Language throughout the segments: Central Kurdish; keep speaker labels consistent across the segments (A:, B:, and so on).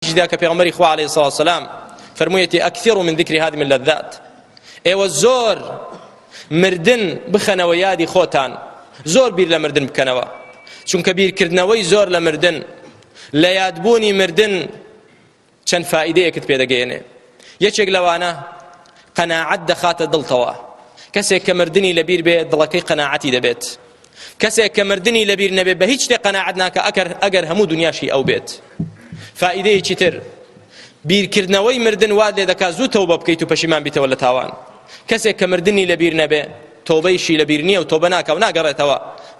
A: جدا کە پێغمبەری خوا علیه الصلاة والسلام فرموویەتی اکثروا من ذکر هذه اللذات ئێوە زۆر مردن بخەنەوە یادی خۆتان زۆر بیر لە مردن بکەنەوە چونکە بیرکردنەوەی زۆر لە مردن لە یادبوونی مردن چەند فائیدەیەکت پێدەگەیەنێ یەکێک لەوانە قەناعەت دەخاتە دڵتەوە کەسێک کە مردنی لەبیر بێ دڵەکەی قەناعەتی دەبێت کەسێک کە مردنی لەبیر نەبێت بە هیچ شتێ قەناعەت ناکە ئەگەر ئەگەر هەموو دنیاشی ئەو بێت فائیدەیەکی تر بیرکردنەوەی مردن واد لێ دەکات زوو تەوبە بکەیت و پەشیمان بیتەوە لە تاوان کەسێک کە مردنی لەبیر نەبێ تۆبەیشی لەبیر نییە و تۆبە ناکە و ناگەڕێتەوە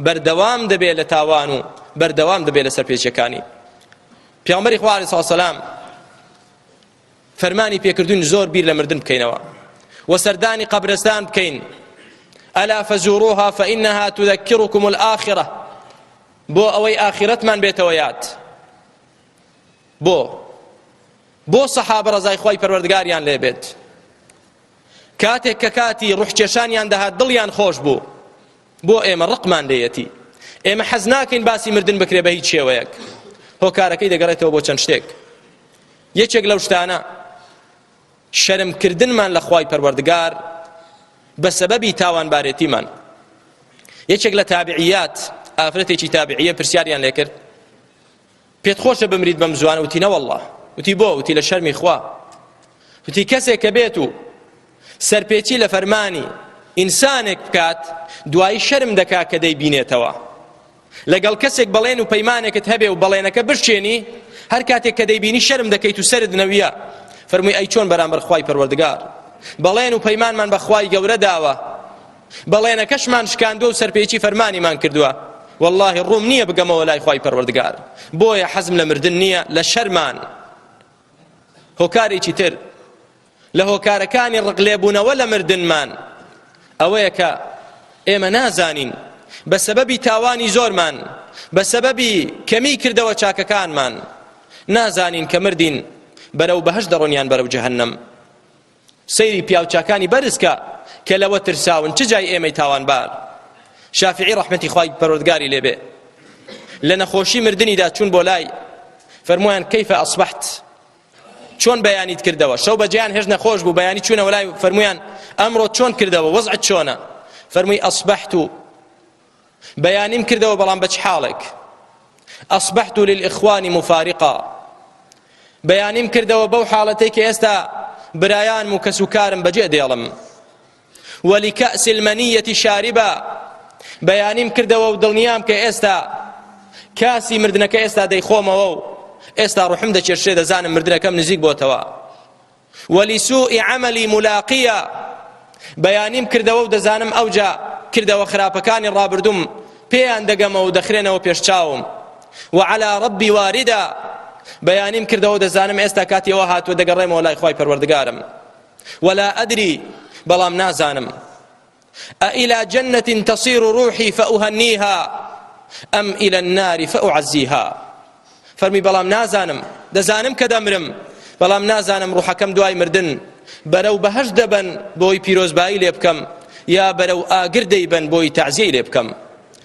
A: بەردەوام دەبێت لە تاوان و بەردەوام دەبێت لە سەرپێچەکانی پیامبەری خوارد ساسەلام فەرمانی پێکردوین زۆر بیر لە مردن بکەینەوە و سەردانی قەبرستان بکەین ئەلا فەزوروها فإنها تذكركم الآخرة بۆ ئەوەی ئاخرەتمان بێتەوە یاد بۆ بۆ سەحابە ڕزای خۆی پەروەردگاریان لێبێت کاتێک کە کاتی ڕوحکێشانیان دەهات دڵیان خۆش بوو بۆ ئێمە ڕقمان لێیەتی ئێمە حەز ناکەین باسی مردن بکرێ بە هیچ شێوەیەک هۆکارەکەی دەگەڕێتەوە بۆ چەند شتێک یەکێک لەو شتانە شەرمکردنمان لە خوای پەروەردگار بە سەبەبی تاوانبارێتیمان یەکێک لە تابعیات ئافرەتێکی تابعیە پرسیاریان لێکرد پێت خۆشە بمریت بەم زوانە وتی نەوەله وتی بۆ وتی لە شەرمی خوا وتی کەسێک کە بێت و سەرپێچی لە فەرمانی ئینسانێک بکات دوایی شەرم دەکا کە دەی بینێتەوە لەگەڵ کەسێک بەڵێن و پەیمانێکت هەبێ و بەڵێنەکە بشێنی هەر کاتێک کە دەیبینی شەرم دەکەیت و سرد نەویە فەرمووی ئەی چۆن بەرامبەر خوای پەروەردگار بەڵێن و پەیمانمان بە خوای گەورە داوە بەڵێنەکەشمان شکاندوە و سەرپێچی فەرمانیمان کردوە واللهی ڕووم نییە بگەمەوە لای خوای پەروەردگار بۆیە حەزم لە مردن نییە لە شەرمان هۆکارێکی تر لە هۆکارەکانی ڕقلێبوونەوە لە مردنمان ئەوەیە کە ئێمە نازانین بە سەبەبی تاوانی زۆرمان بە سەبەبی کەمی کردەوە چاکەکانمان نازانین کە مردین بەرەو بەهش دەڕۆنیان بەرەو جەهنم سەیری پیاوچاکانی بەرز کە کە لەوە ترساون چ جای ئێمەی تاوانبار شافعی ڕەحمەتی خوای پەروەردگاری لێبێ لە نەخۆشی مردنیدا چوون بۆ لای فەرمویان کەیفە ئەسبحت چۆن بەیانیت کردەوە شەو بەجیان هێش نەخۆش بوو بەیانی چوونەوە لای فەرمویان ئەمڕۆ چۆن کردەوە وەزعت چۆنە فەرمووی ئەسبحت و بەیانیم کردەوە بەڵام بە چ حاڵێک ئەصبحت للإخوان مفارقا بەیانیم کردەوە بەو حاڵەتەی کە ئێستا برایان و کەس و کارم بەجێ دێڵم ولكأس المنية شاربا بەیانیم کردەوە و دڵنیام کە ئێستا کاسی مردنەکە ئێستا دەیخۆمەوە و ئێستا ڕحم دەچێشێ دەزانم مردنەکەم نزیک بۆتەوە ولسوء عملی ملاقیە بەیانیم کردەوە و دەزانم ئەوجا کردەوە خراپەکانی ڕابردوم پێیان دەگەمەوە و دەخرێنەوە پێش چاوم وعلى ربی واردە بەیانیم کردەوە دەزانم ئێستا کاتیەوە هاتووە دەگەڕێمەوە لای خی پەروەردگارم ولا ئەدری بەڵام نازانم ئەئیلا جەنەتین تەسیرو ڕوحی فەئوهەنیها ئەم ئیلا الناری فەئوعەزیها فەرمی بەڵام نازانم دەزانم کە دەمرم بەڵام نازانم ڕوحەکەم دوای مردن بەرەو بەهەش دەبەن بۆی پیرۆزبایی لێ بکەم یا بەرەو ئاگر دەیبەن بۆی تەعزیەی لێ بکەم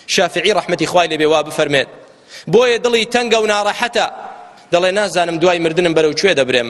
A: شافعی ڕەحمەتی خوای لێ بێ وا بفەرمێت بۆیە دڵی تەنگە و ناڕەحەتە دەڵێ نازانم دوای مردنم بەرەو کوێ دەبرێم